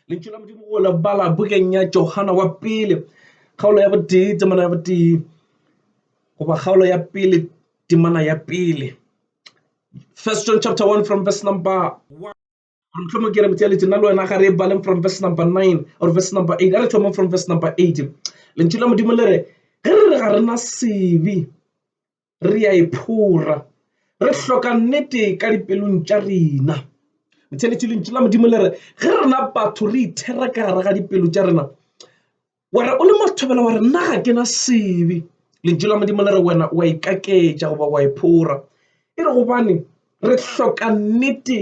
lentšu la modimo go lebala bukeng ya johana wa pele kgaolo ya botee temana ya botee goba kgaolo ya pele temana ya pele first john chapter 1 from verse number mohlomong ke re motšeletše nna le wena ga re baleng from verse number 9 or verse number 8 a re thomong from verse number 8 lentšu la modimo le re ge re re ga rena sebe re a e phora. Re hloka nnete ka dipelong tša rena. Motheeletši lentšu la Modimo le re ge rena batho re ithera ka gare ga dipelo tša rena wena o le mathobela wa re nna ga ke na sebe lentšu la Modimo le re wena wa ikaketša goba wa e phora e re gobane re hloka nnete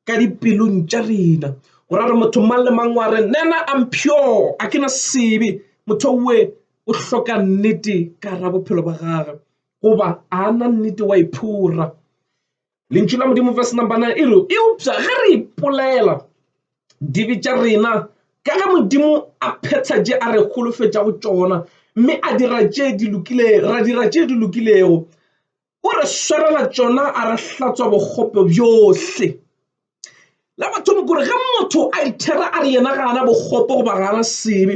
ka dipelong tša rena gore re motho mang le mang wa re nena I'm pure a ke na sebe motho we o hloka nnete ka ra bophelo ba gagwe goba a na nnete wa iphora lentšu la modimo verse number 9 e re eupša ge re ipolela dibe tša rena ka ge modimo a phetha je a re holofetša go tšona mme a dira tše di lokilego ra dira tše di lokilego O re swarela tšona a re hlatswa bokgope bjohle. La mathomo kore ge motho a ithera a re yena ga ana bokgope goba ga ana sebe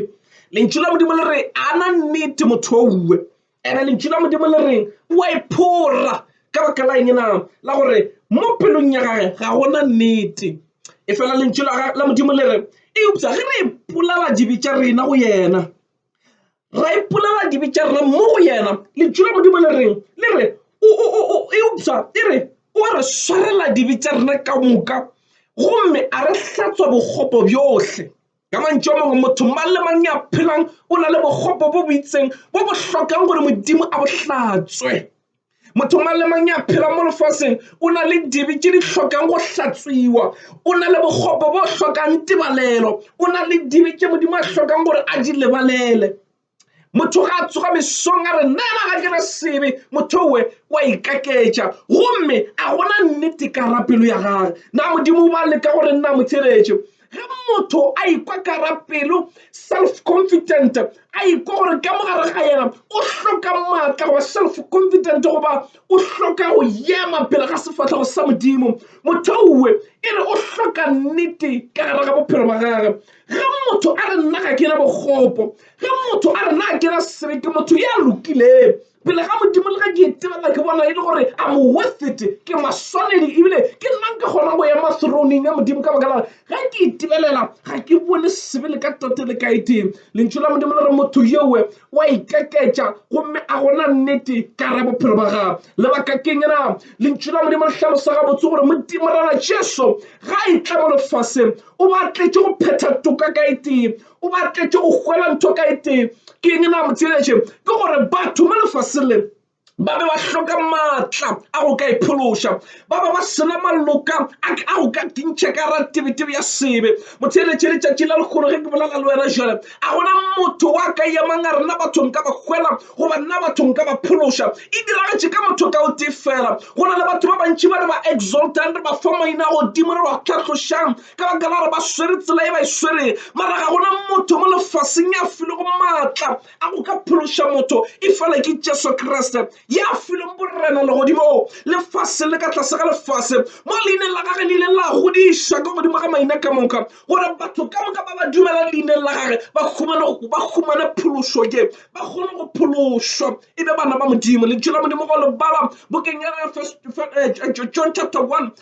lentšu la modimo le re ana nnete motho owe ene lentšu la modimo le reng o a iphora ka baka la eng na la gore mo pelong ya gage ga gona nnete e fela lentšu la modimo le re eupša ge re ipolala dibe tša rena go yena Ra ipolela dibe tša rena mo go yena. Lentšu la Modimo le reng? Le re, eupša e re o a re swarela dibe tša rena ka moka gomme a re hlatswa bokgopo bjohle. Ka mantšu a mangwe, motho mang le mang yo a phelang o na le bokgopo bo bo itseng bo bo hlokang gore Modimo a bo hlatswe. motho mang le mang ya phela mo lefaseng o na le dibe tše di hlokang go hlatswiwa o na le bokgopo bo hlokang tebalelo o na le dibe tše modimo a hlokang gore a di lebalele motho ga a tsoga mesong a re nna ena ga kena sebe motho owe wa ikaketša gomme a gona nnete ka ra pelo ya gage na modimo ba leka gore nna mo theretše Ge motho a ikwa ka gare pelo, self-confident, a ikwa gore ka mo gare ga yena o hloka maatla go ba self-confident goba o hloka go yema pele ga sefahlego sa Modimo, motho owe e re o hloka nnete ka gare ga bophelo ba gage. Ge motho a re nna ga ke na bokgopo, ge motho a re na ke na sebete, motho ya lokile. pele ga Modimo le ge ke e tebela ke bona e le gore a mo worth it ke maswanedi ebile ke nna nke kgona go ema throning ya Modimo ka baka la ge ke e tebelela ga ke bone sebele ka tote le ka e tee lentšu la Modimo le re motho yewe wa ikeketša gomme a gona nnete ka ra bophelo ba gago lebaka keng na lentšu la Modimo le hlalosa gabotse gore Modimo rana Jesu ga e tla mo lefaseng o batletše go phetha toka ka e tee O batetše go hwela ntho ka etee. Ke eng na motheeletše? Ke gore batho mo lefaseng le ba be ba hloka maatla a go ka iphološa, ba be ba sena maloka a go ka kintšha ka ra tebetebe ya sebe. Motheeletše, letšatši la lekgono ge ke bolela le wena jale, a gona motho wa ka yemang a re nna batho nka ba hwela goba nna batho nka ba phološa. E diragetše ka motho ka o tee fela. Go na le batho ba bantši ba re ba exaltang, re ba fa maina a godimo, re ba tlhatlošang, ka baka la gore ba swere tsela e ba e swereng mara ga gona motho mo lefaseng ya filego maatla a go ka phološa motho e fela ke jesu kriste ya fileng borena legodimong lefase le ka tlase ga lefase mo leineng la gage le ile la godiša ka godimo ga maina ka moka gore batho ka moka ba ba dumela leineng la gage ba humane phološo ke ba kgone go phološwa e be bana ba modimo le tšela modimo go lebala bokeng ya eh, eh, john chapter 1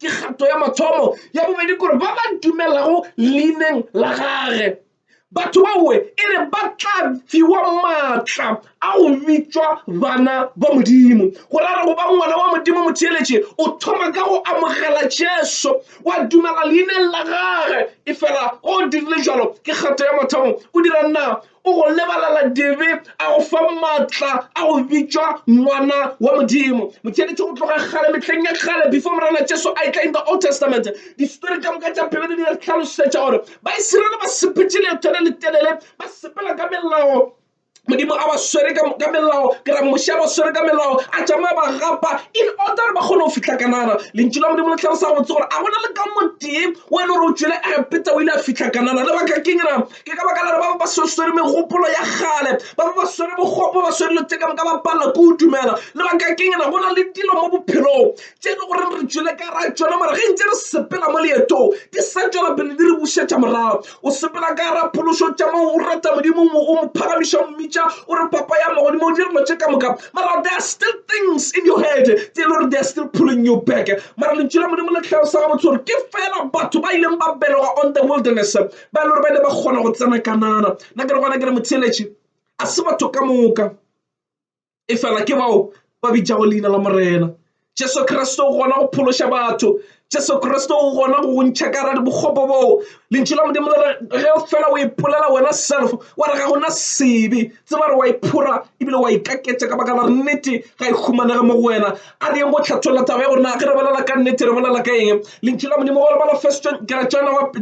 Ke kgato ya mathomo ya bobedi gore ba ba dumelago leineng la gage batho baowe e re ba tla fiwa maatla a go bitšwa bana ba modimo go rara go ba ngwana wa modimo motheeletše o thoma ka go amogela jesu wa dumela leineng la gage e fela o dirile jalo ke kgato ya mathomo o dira na O go lebalela dibe, a go fa maatla a go bitšwa ngwana wa Modimo. Motšeletše go tloga kgale, mehleng ya kgale, before Morena Jesu a e tla in the Old Testament, distory ka moka tša Bibele di re hlalosetša gore Baisiraele ba sepetše leeto le letelele ba sepela ka melao. Modimo a ba swere ka ka melao, ke ra Moshe a ba swere ka melao, a tšamaya ba gapa in order gore ba kgone go fihla Kanana. Lentšu la Modimo le hlalosa gabotse gore a go na le ka motee o e le gore o tšwele a Egepeta o ile a fihla Kanana. Lebaka keng na? ke ka baka lare ba ba ba swere megopolo ya gale ba ba ba swere bogopo ba swere letse ka moka ba palela ko o dumela lebaka keng na go na le dilo mo bophelong tše e le goreng re tšwele ka ra tsona mara ge ntse re sepela mo leetong di sa tswela pele di re bušetša morago o sepela ka ra phološo tša mo o rata modimo o mo phagamiša o mmitša o re papa ya magodimo o di relo tše ka moka mara there are still things in your head tse e le gore they are still pulling you back mara lentšu la modimo le tlhalosa gabotse gore ke fela batho ba ileng ba belega on the wilderness ba e le gore ba ile ba kgona go tsena kanana nna ke re gona ke re motheletši a se batho ka moka e fela ke bao ba bitšago leina la morena jesu kriste o gona go phološa batho jesu kriste o gona go gontšha ka radi bokgopo boo lentši la modimo le ge fela o ipolela wena self wa re ga gona sebe tse ba re wa iphora ebile wa ikaketša ka baka la nnete ga e humanege mo go wena a re yeng go hlatholla taba ya gore na ge re bolela ka nnete re bolela ka eng lentši la modimo go lebala first john ke re jana wa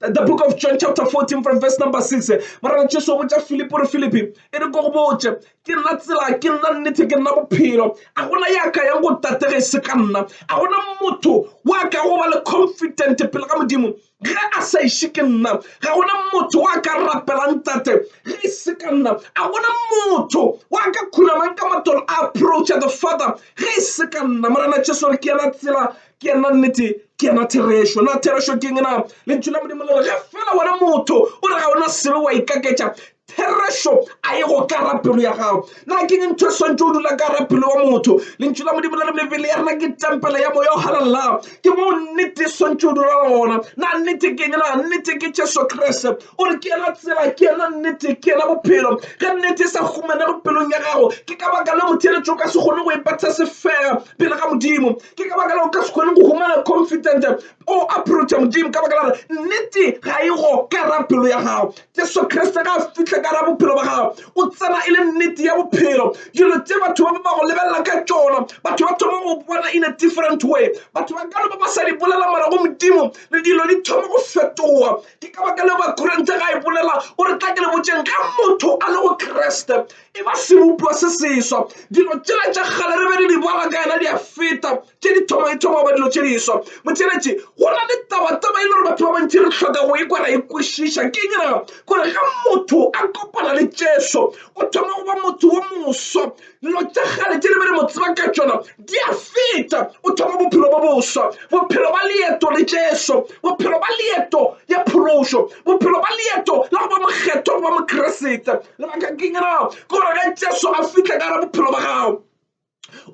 the book of john chapter 14 from verse number 6 morena jesu o botša philip gore philip e re ko go botše ke nna tsela ke nna nnete ke nna bophelo a gona ya ka yang go tatege se ka nna a gona motho wa ka go ba le confident pele ga modimo Ge a sa iše ke nna, ga go na motho wa ka rapelang Tate ge e se ka nna. A go na motho wa ka khunamang ka matolo a approacha the Father ge e se ka nna. Morena Jesu re, Ke yena tsela, ke yena nnete, ke yena therešo. Na therešo ke eng na? Lentšu la Modimo le re, Ge fela wena motho o re ga o na selo, o a ikaketša. Therešo a ye go ka ra pelo ya gago. Na ke eng ntho e swantše o dula ka ra pelo ya motho? Lentšu la Modimo le re mebele ya rena ke tempele ya moya o halalelang. Ke moo nnete e swantše o dula gona. Na nnete ke eng? Na nnete ke Jesu Kriste. O re ke yena tsela, ke yena nnete, ke yena bophelo. Ge nnete e sa humanego pelong ya gago, ke ka baka leo motheeletši o ka se kgone go e betha sefega pele ga Modimo. Ke ka baka leo o ka se kgone go humana confident O aprocha Modimo ka baka la gore nnete ga e go kara pelo ya gago. Jesu Kriste ga a fihle kara bophelo ba gago, o tsena e le nnete ya bophelo. Dilo tse batho ba ba go lebelela ka tšona, batho ba thoma go bona in a different way. Batho ba ka no ba ba sa di bolela mara go Modimo le dilo di thoma go fetoga. Ke ka baka leo Bakorente ga e bolela o re tla ke le botšeng ge motho a le go Kriste e ba sebopiwa se seswa dilo tšela tša kgale re be re di bala ka yena di a feta tše di thoma di thoma goba dilo tše di swa motšheletše go na le tabataba e le gore batho ba bantši re hloka go e kwa ra e kwešiša ke eng na gore ga motho a kopana le tšeso o thoma go ba motho wo moswa dilo tša kgale tše re be re mo tseba ka tšona Di a feta, o thoma bophelo bo boswa, bophelo ba leeto le Jesu, bophelo ba leeto ya phološo, bophelo ba leeto la go ba mokgethwa go ba Mokriste. Lebaka ke eng na? Ke gore ge Jesu a fihla ka ra bophelo ba gago,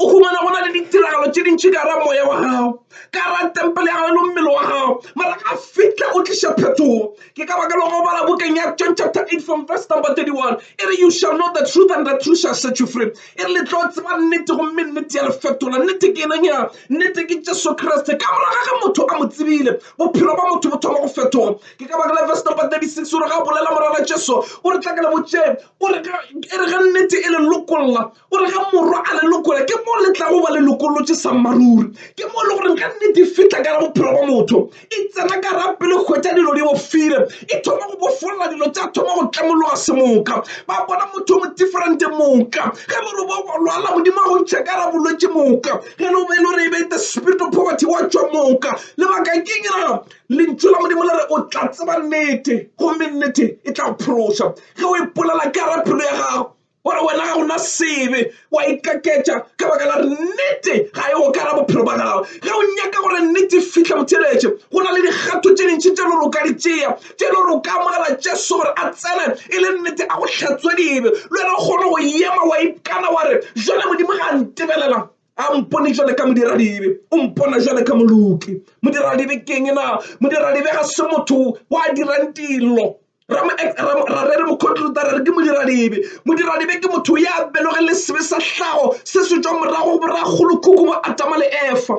o humana go na le ditiragalo tše dintši ka ra moya wa gago, ka ra tempele ya gago le mmele wa gago, mara a fihla o tliša phetogo. Ke ka baka lego o bala bukeng ya John chapter 8 from verse number 31 e re you shall know the truth and the truth shall set you free. e re le tlo tseba nnete gomme nnete ya le fetola nnete ke eneng ya nnete ke jesu kriste ka moraga ge motho a mo tsebile bophelo ba motho bo thoma go fetoga ke ka baka la verse number 36 o re ga a bolela morana jesu o re tla ka le botšeng o re e re ge nnete e le lokolla o re ge morwa a le lokola ke mo le tlago ba le lokolotše sa mmaruri ke mo e le goreng ge nnete e fitlha ka la bophelo ba motho e tsena ka rapele go hwetša dilo di bofile e thoma go bofolla dilo tša thoma go tlamologa semoka ba bona motho mo differente moka ge le re bo lwala modimo a go ntšha ka ra bolwetse moka ge le be le re be the spirit of poverty wa tšwa moka lebaka keng ra lentšu la modimo le re o tla tseba nnete gomme nnete e tla phološa ge o ipolela ka rapelo ya gago gore wena ga ona sebe wa ikaketša ka baka la re nnete ga e okara bophelo ba gago ge o nyaka gore nnete fitlha botheletše go na le dikgatho tše dintšhi tše le roka ditšea tše le roka amogela jesu gore a tsene e le nnete a go hlatswe dibe le wena o kgone go ema wa ikana wa re jale modimo ga ntebelela a mpone jale ka modiradibe o mpona jale ka moloki modiradibe keng na modiradibe ga se motho wa dirang dilo rarere mokhotlota re re ke modiradibe modiradibe ke motho ya beloge le sebe sa hlago se se tswa morago boragolokhuku bo atama le efa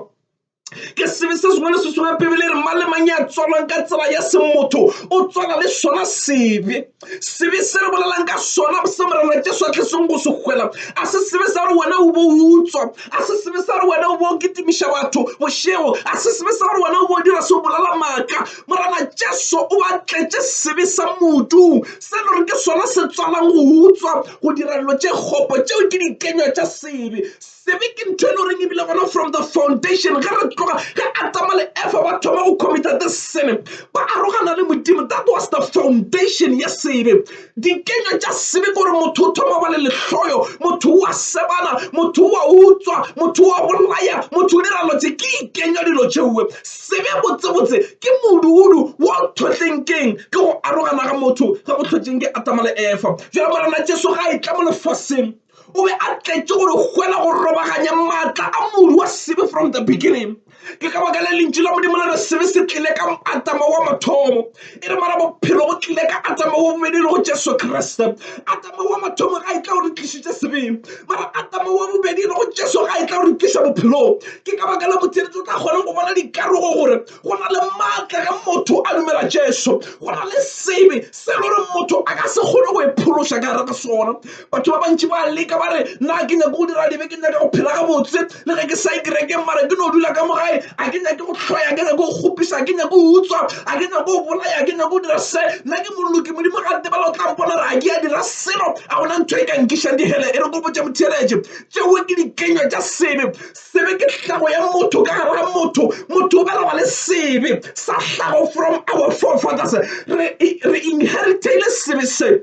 ke sebe se sengwe le se sengwe bibele re mang le mang ya tswalwang ka tsela ya se motho o tswala le sona sebe sebe se re bolelang ka sona se morena jesu a tleseng go se hwela a se sebe sa gore wena o bo utswa a se sebe sa gore wena o bo kitimiša batho bošego a se sebe sa gore wena o bo dira se o bolela maaka morena jesu o a tletše sebe sa modung se le gore ke sona se tswalang go utswa go dira dilo tše kgopo tšeo ke dikenywa tša sebe Sebe ke ntho e le goreng ebile gona from the foundation ge re tloga ge atama le efa ba thoma go committa the sene ba arogana le modimo that was the foundation ya sebe dikenywa tša sebe gore motho o thoma ba le lehloyo motho wa sebana motho wa utswa motho wa bolaya motho o dira lotse ke ikenywa dilo tšeoe sebe botsebotse ke moduudu wa thotleng keng ke go arogana ga motho ge go tlhotšeng ke atama le efa jalo morena jesu ga e tla mo lefaseng o be a tletše gore hwela go robaganya maatla a modu wa sebe from the beginning ke ka baka le lentši la modimo le re sebe se tlile ka atama wa mathomo e re mara bophelo bo tlile ka atama wa bobedi le go jesu kriste atama wa mathomo ga e tla gore tlišitše sebeng mara atama wa bobedi le go jesu ga e tla gore tliša bophelong ke ka baka la motšeletso o tla kgonang go bona dikarogo gore go na le maatla ge motho a dumela Jesu go na le sebe se le gore motho a ka se kgone go e phološa ka gare ga sona batho ba bantši ba leka ba re na ke nyake go dira dibe ke nyake go phela gabotse le ge ke sa e kerekeng mara ke no dula ka mo gae a ke nyake go tlhoya ke nyake go kgopisa ke nyake go utswa a ke nyake go bolaya ke nyake go dira se nna ke moloki modimo ga tebela o tla mpona re a ke a dira selo a gona ntho e ka nkišang dihele e re kopotše motheeletše tšeo ke dikenywa tša sebe Sebe ke hlago ya motho ka gare ga motho. Motho o belegwa le sebe sa hlago from our forefathers. Re, re inheritile sebe se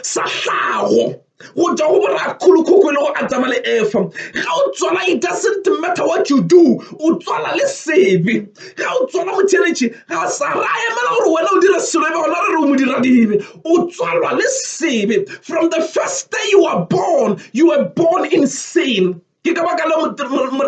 sa hlago go tšwa go borakgolokhokho e le go adama le efa ga o tswala it doesn't matter what you do o tswala le sebe ga o tswala motšheletše ga sa ra emela gore wena o dire selo e be gona re re o modiradibe o tswalwa le sebe from the first day you are born you were born in sin Ke ka baka la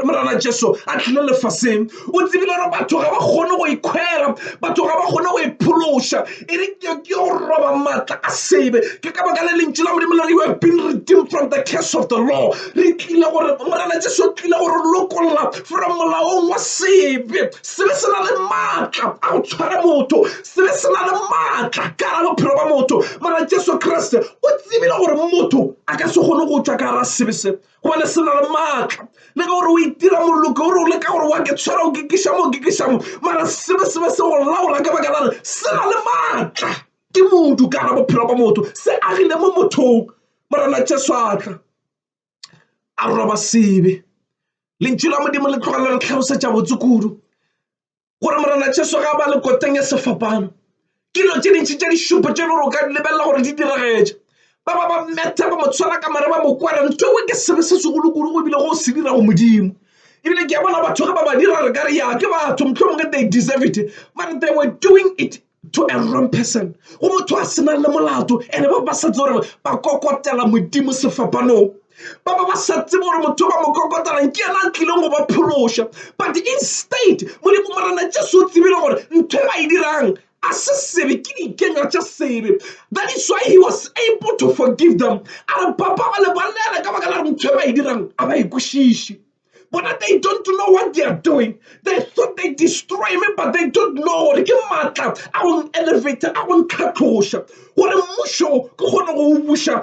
Morena Jesu a tlile lefaseng. O tsebile gore batho ga ba kgone go ikhwela, batho ga ba kgone go iphološa, e re ke yo roba maatla a sebe. Ke ka baka la lentšu la Modimo le re you have been redeemed from the curse of the law. Re tlile gore Morena Jesu o tlile gore lokolla from molaong wa sebe. Sebe se na le maatla a go tshwara motho, sebe se na le maatla ka gara bophelo ba motho. Morena Jesu Kriste o tsebile gore motho a ka se kgone go tšwa ka gara sebe se. gobane se na le maatla le ka gore o itira moloko gore o leka gore wa ke tshwara o kikišamo o kikišamo mara sebe sebe se go laola ka baka lare se na le maatla ke modu ka gara bophelo ba motho se agile mo mothong morena jesu atla a roba sebe lentšu la modimo le tloga le re tlhalosetša botse kudu gore morena jesu ga ba le koteng ya sefapano ke dilo tse dintšhi tše di šupo tše lore o ka lebelela gore di diragetše ba ba ba mmetha ba mo tshwara ka mare ba mo kwara ntho e ke sebe se segolokolo go ebile go se dira go modimo ebile ke a bona batho ge ba ba dira re ka re ya ke batho motlho mongwe they deserve it mare they were doing it to a wrong person go motho a senang le molato ene ba ba sa tse gore ba kokotela modimo sefapanong ba ba ba sa tsebe gore motho ba mo kokotelang ke yena a tlileng go ba phološa but instead modimo morena jesu o tsebile gore ntho e ba e dirang a se sebe ke dikenywa tša sebe that is why he was able to forgive them a re papa ba lebalela ka baka la gore ntho e ba e dirang a ba e kwešiše Bona they don't know what they are doing. They thought they destroy me but they don't know gore ke maatla a go elevator a go ntlhatloša gore mmušo ke kgone go o buša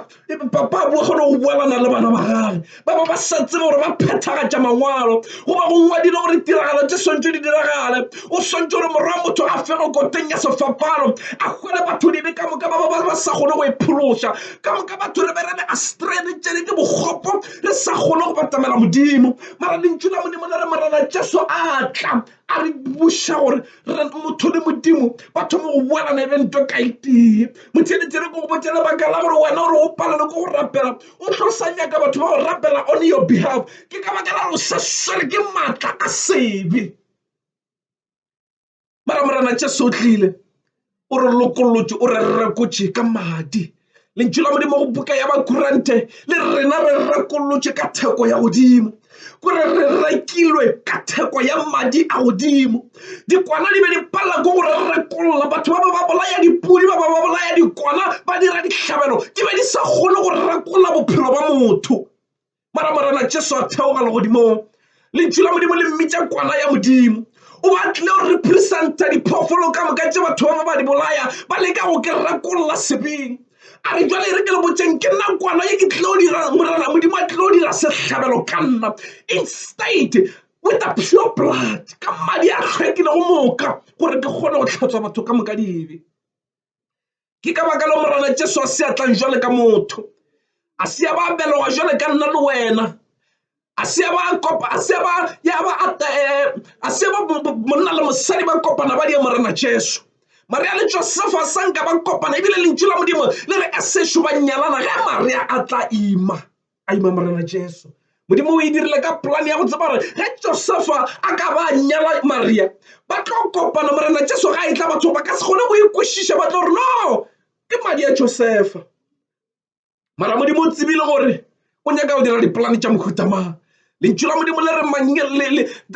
papa a bua kgone go buelana le bana ba gage ba ba ba sa tsebe gore ba phethagatša mangwalo goba go ngwadile gore tiragalo tse swantse di diragale o swantse gore morwa motho a fego koteng ya sefapano a hwele batho dibe ka moka ba ba ba sa kgone go e phološa ka moka batho re be re le astrene tšene ke bokgopo re sa kgone go batamela modimo mara lentšu la modimo le re morena jesu a tla a re buša gore motho le modimo ba thome go boelana e be nto ka itee motheletele ko go botse lebaka la gore wena gore o palelwe ko go rapela o tlo sa nyaka batho ba go rapela on your behalf ke ka baka la gore o sa swere ke maatla a sebe mara morena tše sotlile o re lokolotše o re rekotše ka madi lentšu la modimo go buka ya bakurante le rena re rekolotše ka theko ya godimo kore re rekilwe ka theko ya madi a godimo dikwana di be di palela ko gore re rekolola batho ba ba ba bolaya dipudi ba ba ba bolaya dikwana ba dira dihlabelo di be di sa kgone go rekolola bophelo ba motho mara morena jesu a theoga legodimong lentšu la modimo le mmitša kwana ya modimo o batlile go representa diphoofolo ka moka tše batho ba ba di bolaya ba leka go ke rakolola sebeng a re jale e re ke le botseng ke nna kwana ye ke tlilo dira morena modimo a tlilo dira sehlabelo ka nna instate with the pure blood ka madi a hlwekile go moka gore ke kgone go tlhatswa batho ka moka dibe ke ka baka leo morena jesu a se a tlang jwale ka motho a se ya ba beloga jwale ka nna le wena a se ya ba kopa a se ya ba ya ba eh, a se ba monna le mosadi ba kopana ba di morena jesu maria le josefa sanka ba kopana ebile lentšu la modimo le re a sešo ba nyalana ge maria a tla ima a ima Morena Jesu. Modimo o e dirile ka polane ya go tseba gore ge Josefa a ka ba nyala Maria ba tlo kopana Morena Jesu ga e tla batho ba ka se kgone go ikwešiša ba tlo re no ke madi ya Josefa. Mara Modimo o tsebile gore o nyaka go dira dipolane tša mohuta mang. Lentšu la Modimo le re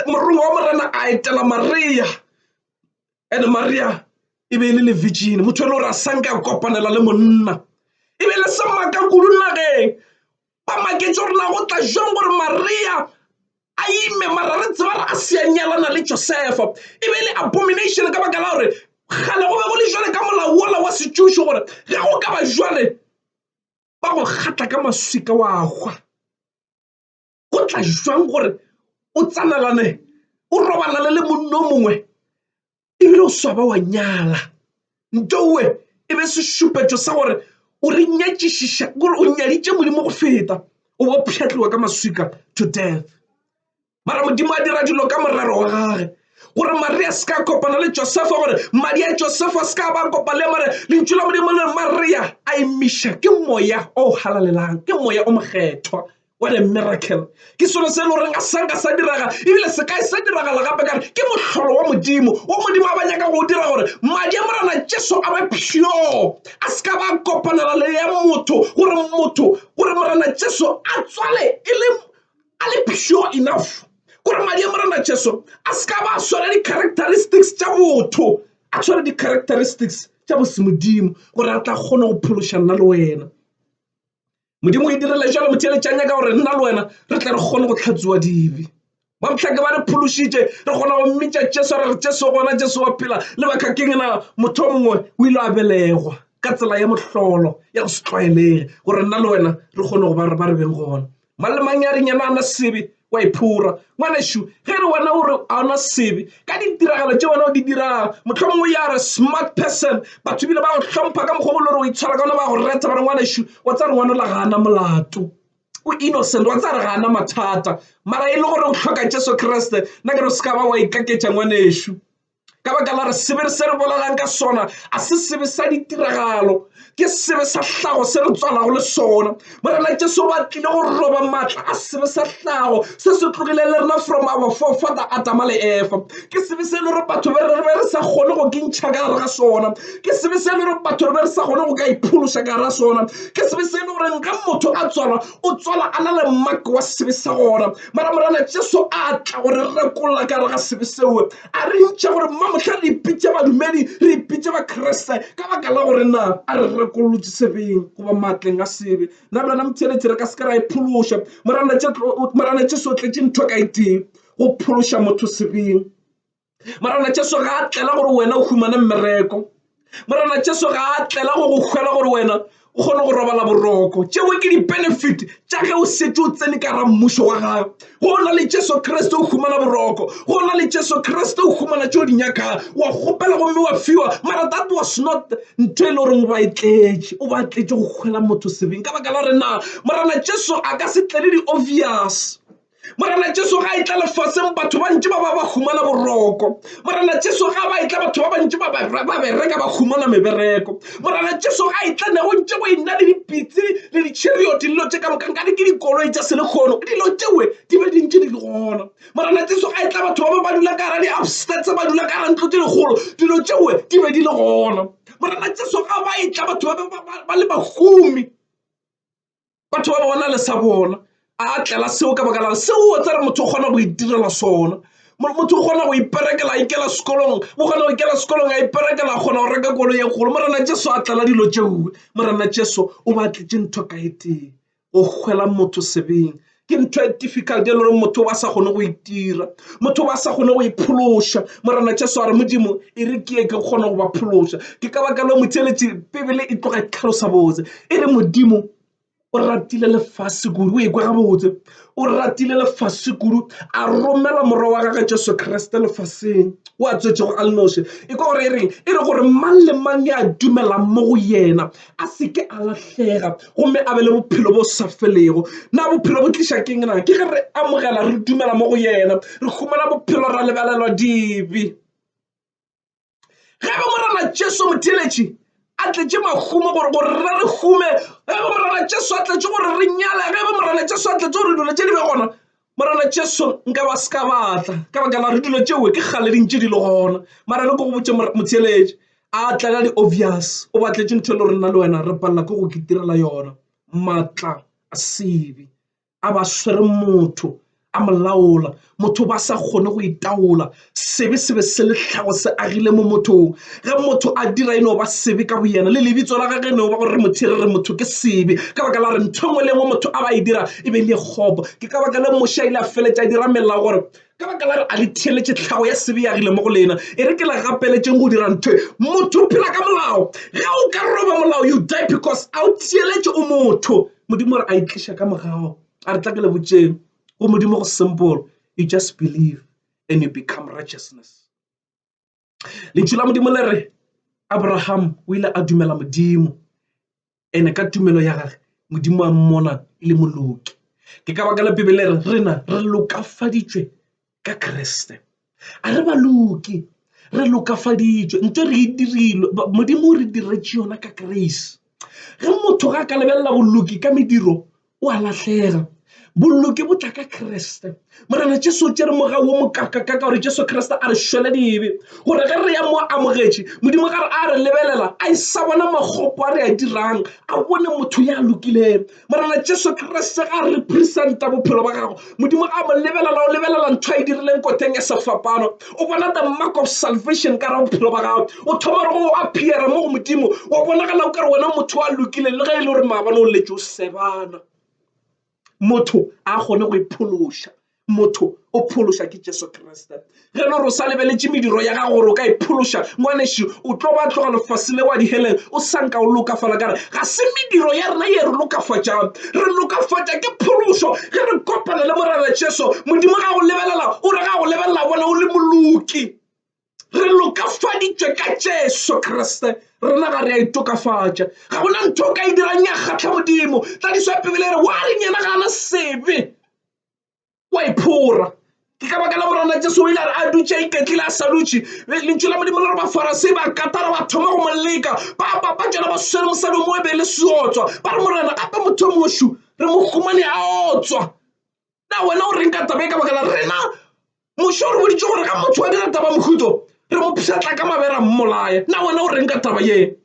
morongwa wa Morena a etela Maria and maria e be e le levigene motho e le gore a sanke a kopanela le monna e be le se maaka kudu nageng ba maketse gore na go tla jang gore maria a ime mara re tseba re a seanyalana le josefa e be le abomination ka baka la gore gale go be go le jale ka molao wola wa setšušo gore ge go ka ba jale ba go kgatla ka maswika wa gwa go tla jwang gore o tsanalane o robalane le monno mongwe ebile o swaba wa nyala ntowe e be sešupetšo sa gore o re nyatšišiša gore o nyaditše modimo go feta o bo pšhatliwa ka maswika to death mara modimo a dira dilo ka morero wa gage gore maria se ka kopana le josefa gore madi a josefa se ka ba kopa le mare lentšu la modimo le maria a emiša ke moya o halalelang ke moya o mokgethwa what a miracle ke selo se e le goreng a sanka sa diragala ebile se kae sa diragala gape kare ke mohlolo wa modimo wa modimo a ba nyaka go dira gore madi a morana jesu a ba pure a se ka ba kopanela le ya motho gore motho gore morana jesu a tswale e le a le pure enough gore madi a morana jesu a se ka ba swara di-characteristics tša botho a tshware di-characteristics tša bosemodimo gore a tla kgona go phološa nna le wena modimo e direla jalo motheletšang ya ka gore nna le wena re tle re kgone go tlhatsiwa dibe ba motlhake ba re phološitše re kgona go mmitša jesu re re jesu gona jesu wa phela le bakakeng na motho mongwe o ile a belegwa ka tsela ya mohlolo ya go se tlwaelege gore nna le wena re kgone go ba re ba re beng gona mang le mang ya reng yena a na sebe wa iphora ngwanešu ge re wena gore a ona sebe ka ditiragalo tše wena o di dirago mohlomong o ya re smart person batho bile ba go hlompha ka mokgwa bolo gore o itshwara ka ona ba go reta ba re ngwanešu wa tsa re ngwana la gana molato o innocent wa tsa re gana mathata mara e le gore o hloka jesu kriste nna ke re se ka ba wa ikaketša ngwanešu ka baka la re sebe se re bolelang ka sona a se sebe sa ditiragalo ke sebe sa hlago se re tswalago le sona morena jesu ba tlile go roba maatla a sebe sa hlago se se tlogile le rena from our forefather adama le efa ke sebe se e le gore batho be re be re sa kgone go ke ntšha ka gare ga sona ke sebe se e le gore batho re be re sa kgone go ka iphološa ka gare ga sona ke sebe se e le gore nka motho a tswalwa o tswala a na le mmako wa sebe sa gona mara morena jesu a tla gore re rekolla ka gare ga sebe seo A re ntšha gore mmamohla re ipitše badumedi, re ipitše Bakriste ka baka la gore na a re rekolotše sebeng goba maatleng a sebe. Na bjona motheeletši re ka se ke ra e phološa? Morana Jesu o tletše ntho ka itee go phološa motho sebeng. Morana Jesu ga a tlela gore wena o humane mmereko. morena jesu ga a tlela go go hwela gore wena o kgone go robala boroko tšeo ke di-benefit tša ge o setse o tsene ka ra mmušo wa gae go na le jesu kriste o humana boroko go na le jesu kriste o humana tšeo di nyakang wa kgopela gomme wa fiwa mara that was not ntho e le goreng o ba e tletše o ba tletše go kgwela motho sebeng ka baka la gore na morena jesu a ka se tlele di-obvious morena jesu ga e tla lefaseng batho ba ntši ba ba ba humana boroko morena jesu ga ba e tla batho ba bantši ba bereka ba humana mebereko morena jesu ga e tla nego ntše go e nna le dipitse le ditšhirio dillo tše ka mokanka di ke dikoloi tša selekgono dilo tšewe di be dintši di le gona morena jesu ga e tla batho ba ba ba dula ka gara di-upstats ba dula ka gara ntlo tše dikgolo dilo tšewe di be di le gona morena jesu ga ba e tla batho ba ba le bahumi batho ba bona le sa bona a tlela seo ka baka la seo o tsere motho o kgona go itirela sona motho o kgona go iperekela a ikela sekolong o kgona go ikela sekolong a iperekela a kgona go reka kolo ye kgolo morena jesu a tlela dilo tšeoe morena jesu o ba tletse ntho ka e tee go kgwela motho sebeng ke ntho e difficult e le gore motho ba sa kgone go itira motho ba sa kgone go iphološa morena jesu a re modimo e re ke ye ke kgone go ba phološa ke ka baka le motheletši bebele e tloga e tlhalosa botse e re modimo o ratile lefase kudu o ekwa gabotse o ratile lefase kudu a romela morwa wa gage jesu kriste lefaseng o a tswetšego a le noši e kwa gore e reng e re gore mang le mang ya dumelang mo go yena a se ke a lahlega gomme a be le bophelo bo sa felego. Na bophelo bo tliša keng na? Ke ge re amogela, re dumela mo go yena, re humana bophelo, ra lebelelwa dibe. Ge be Morena Jesu motheeletši a tletše mahumo gore gore re re hume, ge be Morena Jesu a tletše gore re nyale, ge be Morena Jesu a tletše gore dilo tše di be gona, morena jesu nka ba se ka batla ka baka la re dilo tšeo ke kgale di ntše di le gona mara re ko go botse motheeletše a tlela di-obvious o batletše ntho e le rena le wena re palela ke go ke tirela yona maatla a sebe a ba swere motho a molaola motho ba sa kgone go itaola sebe se be se le tlhago se agile mo mothong ge motho a dira e no ba sebe ka boyena le lebitso la gage e no ba gore re mothere re motho ke sebe ka baka la re ntho engwe le engwe motho a ba e dira e be le kgopo ke ka baka le moše a ile a feletša a dira melela gore ka baka la re a le theeletše tlhago ya sebe yagile mo go lena e re ke la gapeletšeng go dira ntho motho o phela ka molao ge o ka roba molao you die because a o theeletše o motho modimo re a itliša ka mogago a re tla ke le botšeng go modimo go simple you just believe then you become righteousness. Lentšu la Modimo le re Abraham o ile a dumela Modimo ene ka tumelo ya gage Modimo a mmona e le moloki. Ke ka baka la Bibele re rena re lokafaditšwe ka Kriste. A re ba loki re lokafaditšwe nto re e dirilwe Modimo o re diretše yona ka grace. Ge motho ga a ka lebelela boloki ka mediro o a lahlega bollo ke botla ka kreste morena jesu o tšere moga wo mokakakaka gore jesu kreste a re šwele dibe gore ge re ya mo amogetše modimo gare a re lebelela a e sa bona magopo a re a dirang a bone motho ya lokilego morena jesu kreste ga re presenta bophelo ba gago modimo a mo lebelela o lebelela ntho a e dirileng koteng ya sefapano o bona the mark of salvation ka ra bophelo ba gago o thoma re go o appeara mo go modimo wa bonagala o ka re wena motho wa lokile le ge e le gore maabane o letse o sebana motho a kgone go iphološa motho o phološa ke jesu kriste Ge le gore o sa lebeletše mediro ya gago gore o ka e phološa, ngwanešu, o tlo ba tloga lefase le wa diheleng o sa nka o lokafala. Ka re ga se mediro ya rena ye re lokafatšang. Re lokafatša ke phološo ge re kopana le Morena Jesu. Modimo ga go lebelela, o re ga go lebelela bona o le moloki. Re lokafaditšwe ka Jesu Kriste. Rena ga re a itokafatša. Ga go na ntho o ka e dirang ya kgatlha Modimo. Tladišo ya Bibele e re, Wa reng yena ga a na sebe? o a iphora ke ka baka la morana jesu o ile a re a dutše a iketlile a sa dutše lentšu la modimo le re bafarase ba katara ba thoma go mo leka ba papa tšona ba swere mosadi mo e be le seotswa ba re morena gape motho o mošu re mo humane a otswa na wena o reng ka taba e ka baka la rena mošo o re boditše gore ga motho wa dira taba mohuto re mo pšhatla ka mabera mmolaye na wena o reng ka taba ye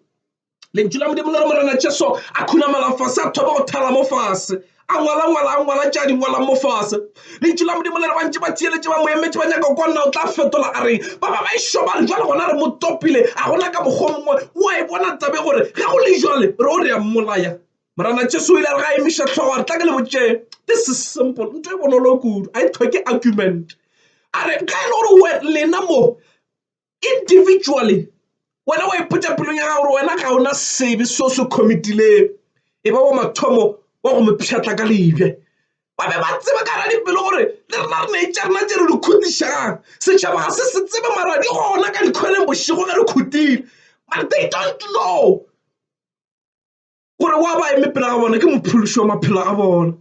lentšu la modimo le re morena jesu a khunamela fase a thoma go thala mo fase a ngwala ngwala a ngwala tša di ngwalang mo fase lentšu la modimo le re bantši ba tsieletse ba moemetse ba nyaka go nna o tla fetola a reng ba ba ba e šoba re jale gona re mo topile a gona ka mokgwa mongwe o a e bona tabe gore ge go le jale re o re ya mmolaya morana jesu o ile a re ga a emiša tlhogo a re tla ke le botšee this is simple nto e bonolo kudu a e tlhoke argument a re ga e le gore lena mo individually wena wa ipotsa pelong ya gago gore wena ga ona sebe seo se committileng e ba wa mathomo wa go mo pšhatla ka lebja ba be ba tseba ka ra dipelo gore le rena re ne tša rena tse re di khutišang setšhaba ga se se tsebe mara di gona ka dikgweleng bošego ge re khutile but they don't know gore wa ba eme pela ga bona ke mophološi wa maphelo a bona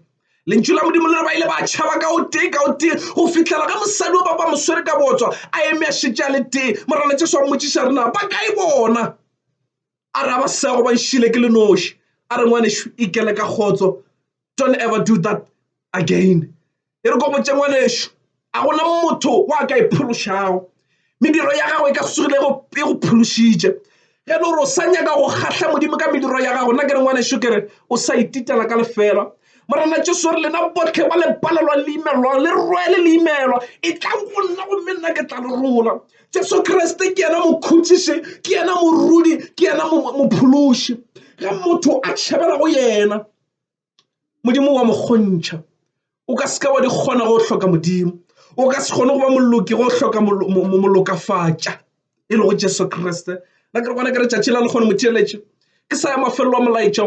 lentšu la modimo le re ba ile ba tšhaba ka o tee ka o tee go fitlhela ga mosadi wa ba ba moswere ka botswa a eme a šetse a le tee morana jesu wa mmotsiša re na ba kae bona a re a ba sego ba nšile ke le noši a re ngwanešu ikele ka kgotso Don't ever do that again. E re komotše ngwanešu, a gona motho wa ka e phološago. Mediro ya gago e ka sugile e go phološitše. Ge e le gore o sa nyaka go kgahla Modimo ka mediro ya gago, nna ke re ngwanešu ke re o sa ititela ka lefela. Morena Jesu re lena botlhe ba le palelwa le imelwang le rwele le imelwa e tla go nna gomme nna ke tla le rola Jesu Kriste ke yena mokhutšiši ke yena morudi ke yena mophološi ge motho a tšhabela go yena Modimo wa mokgontšha o ka se ka wa di kgona go hloka Modimo o ka se kgone go ba moloki go hloka molokafatša e lego Jesu Kriste na ke re gona ke re tšatši la le kgone motheeletše ke sa ya mafelelo a molaetša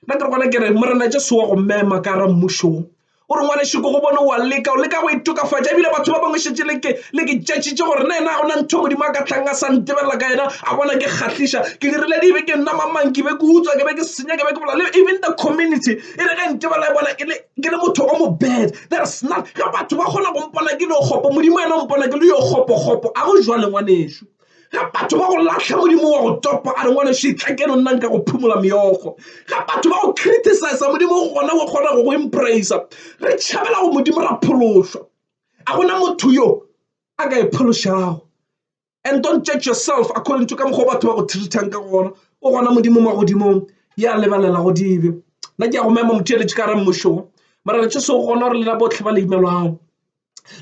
na ke re gona ke re morena Jesu wa go mema ka ra mmušong. o re ngwanešu ko go bone wa leka o leka go itokafatša ebile batho ba bangwe šetse le ke tšatšitše gore na ena go na ntho modimo a ka tlang a sa ntebelela ka yena a bona ke kgahliša ke dirile dibe ke nna mamang ke be ke utswa ke be ke senya ke be ke bola even the community e re ge ntebelela e bona e ke le motho o mo bad there's not ge batho ba kgona go mpona ke le yo kgopo modimo ena o mpona ke le yo kgopokgopo a go jwa lengwanešu ga batho ba go latlha modimo wa go topa a re ngwana šitla ke no nnang ka go phumola meogo ga batho ba go criticiza modimo go gona go kgona go go empracea re tšhabela go modimo ra phološwa a gona motho yo a ka e phološago and don't judge yourself according to ka mokgwa batho ba go treatang ka gona o gona modimo ma godimong ya lebalela go dibe nna ke ya go mema motho eletše ka re mmušogo mara re tše se o gona gore lena botlhe ba le imelwago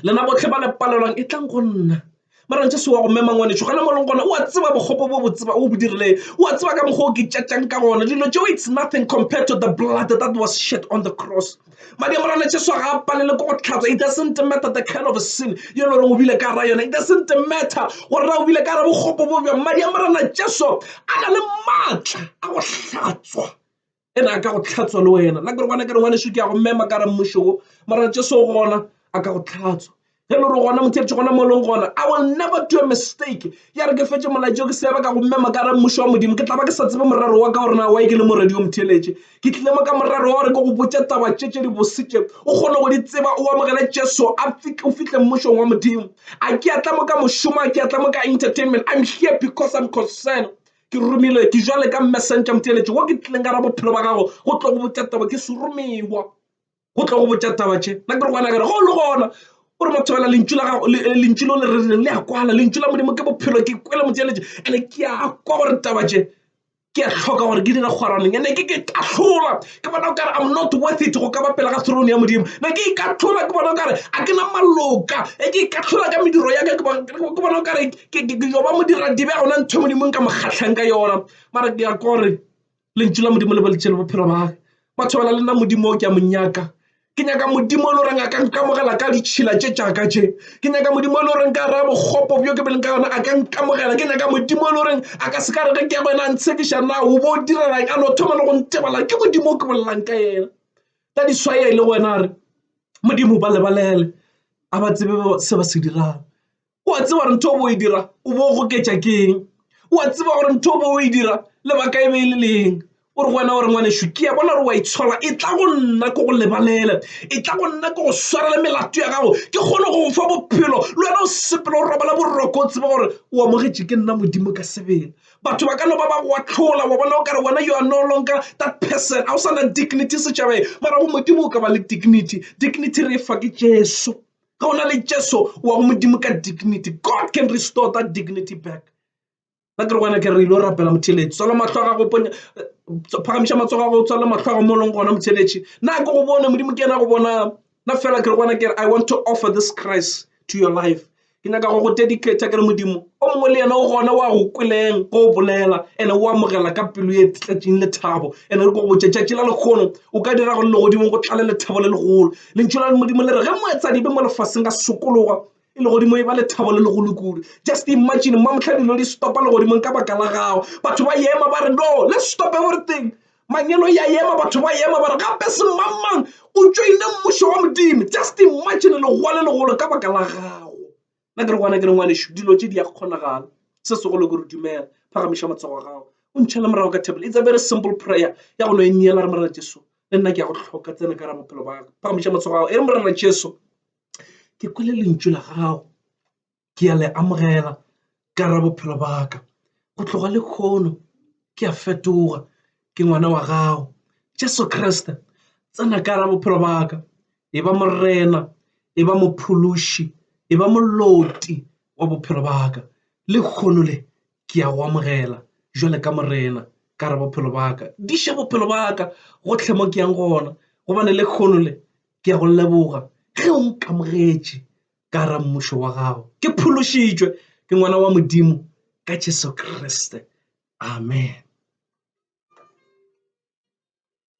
lena botlhe ba le palelwang e tlang go nna mara ntse se wa go mema ngwanetšho gona mo leng gona o a tseba bogopo bo botseba o bo dirileng o a tseba ka mokgwa o ke tšatšang ka gona dilo tšeo it's nothing compared to the blood that was shed on the cross madi a morana jesu ga a palele ko go tlhatswa it doesn't matter the kind of sin yo lo reng o bile ka ra yona it doesn't matter gore ra o bile ka ra bogopo bo bjang madi a morana jesu a na le maatla a go hlatswa e re a ka go tlhatswa le wena la gore bona ke re ngwane šo ke ya go mema ka re mmušo wo mara tše so gona a ka go tlhatswa ge le re gona motheretše gona mo e leng gona i will never do a mistake ya re ke fetse molaetšo ke seaba ka go mema ka re mmušo wa modimo ke tla ba ke sa tsebe morero wa ka gore na wa e ke le moredi yo motheletše ke tlile mo ka morero wa gore ke go botša taba tše tše di bositše o kgone go di tseba o amogele jesu o fihle mmušong wa modimo a ke atla mo ka mošomo a ke atla mo ka entertainment i'm here because i'm concerned Ke romilwe ke jwale ka mmesentša motheeletši wo ke tlileng ka ra bophelo ba gago go tlo go botša taba ke seromewa go tlo go botša taba tše na ke re gona kere go le gona o re mothobela lentšu la gago eh, lentšu lo le rerileng le a kwala lentšu la modimo ke bophelo ke kwele motheeletši ande ke a kwa gore taba tše ke a tlhoka gore ke dire kgwaraneng ande ke ke tahlola ke bona o kare I'm not worth it go ka ba pela ga throne ya Modimo be ke ikahlola ke bona o kare a ke na maloka e ke ikahlola ka mediro ya ka ke bona ke bona o kare ke yo ba modira dibe ga ona ntho e Modimo ka mokgatlhang ka yona mara ke ya kore lentšu la Modimo le boletse le bophelo ba batho ba le nna Modimo o ke a monyaka ke nyaka modimo le goreng a ka nkamogela ka ditšhila tše tšaka tše ke nyaka modimo le goreng ka raya bokgopo bjo ke beleng ka yona a ka nkamogela ke nyaka modimo le goreng a ka se ka rege ke ya go yena a ntshekiša na o bo o direleng a no thoma le go ntebala ke modimo o ke bolelang ka yena ka diswaya e le go wena a re modimo ba lebalele a ba tsebe se ba se dirang o a tseba gore ntho bo e dira o bo goketša ke eng o a tseba gore ntho bo e dira lebaka e be e le leng o re go wena gore ngwanešu ke ya bona gore wa itshola e tla go nna ko go lebalela e tla go nna ko go swarela melato ya gago ke kgone go fa bophelo le wena o sepela o robala boroko o tseba gore o amogetše ke nna modimo ka sebele batho ba ka no ba ba go atlhola wa bona o kare wena yo a no lonka that person a o sa na dignity setšhabeng mara go modimo o ka ba le dignity dignity re e fa ke jesu ge o na le jesu wa go modimo ka dignity god can restore that dignity back ba ke re gona ke re ile o rapela motheletši tswala matlho a gago ponya phagamiša matsogo a go tswala matlho a go mo leng gona motheletši na ke go bone modimo ke yena go bona na fela ke re gona ke re i want to offer this christ to your life ke nyaka go go dedicata ke re modimo o mongwe le yena o gona wa go kweleng go bolela ene o amogela ka pelo e tletšeng lethabo ene re ko go tšetšatši la lekgono o ka dira gore legodimo go tlale lethabo le legolo lentšu la modimo le re ge moetsadibe mo lefaseng ka sokologa e le godimo e ba lethabo le legolo kudu just imagine mma motlha dilo di stopa le godimong ka baka la gago batho ba ema ba re no le stop everything manyelo ya ema batho ba ema ba re gape semangmang o tšoine mmušo wa modimo just imagine legoa le legolo ka baka la gago Nna ke re go wena, ke re, Ngwanešu, dilo tše di a kgonagala. Se segolo ke gore dumela. Phagamiša matsogo a gago. O ntšhele morago ka table. It's a very simple prayer ya go no e neela, re, Morena Jesu, le nna ke a go hloka. Tsena ka gare bophelo ba ka. Phagamiša matsogo a gago. E re, Morena Jesu, ke kwele lentšu la gago. Ke a le amogela ka gare bophelo ba ka. Go tloga le khono ke a fetoga. ke ngwana wa gago jesu kriste tsena ka ra bophelo baka e ba morena e ba mophološi e ba moloti wa bophelo baka le kgono le ke ya go amogela jwale ka morena ka re bophelo baka di še bophelo baka gotlhe mo ke yang gona gobane le kgono le ke ya go leboga ge o nkamogetše ka ra mmušo wa gago ke phološitšwe ke ngwana wa modimo ka jesu kriste amen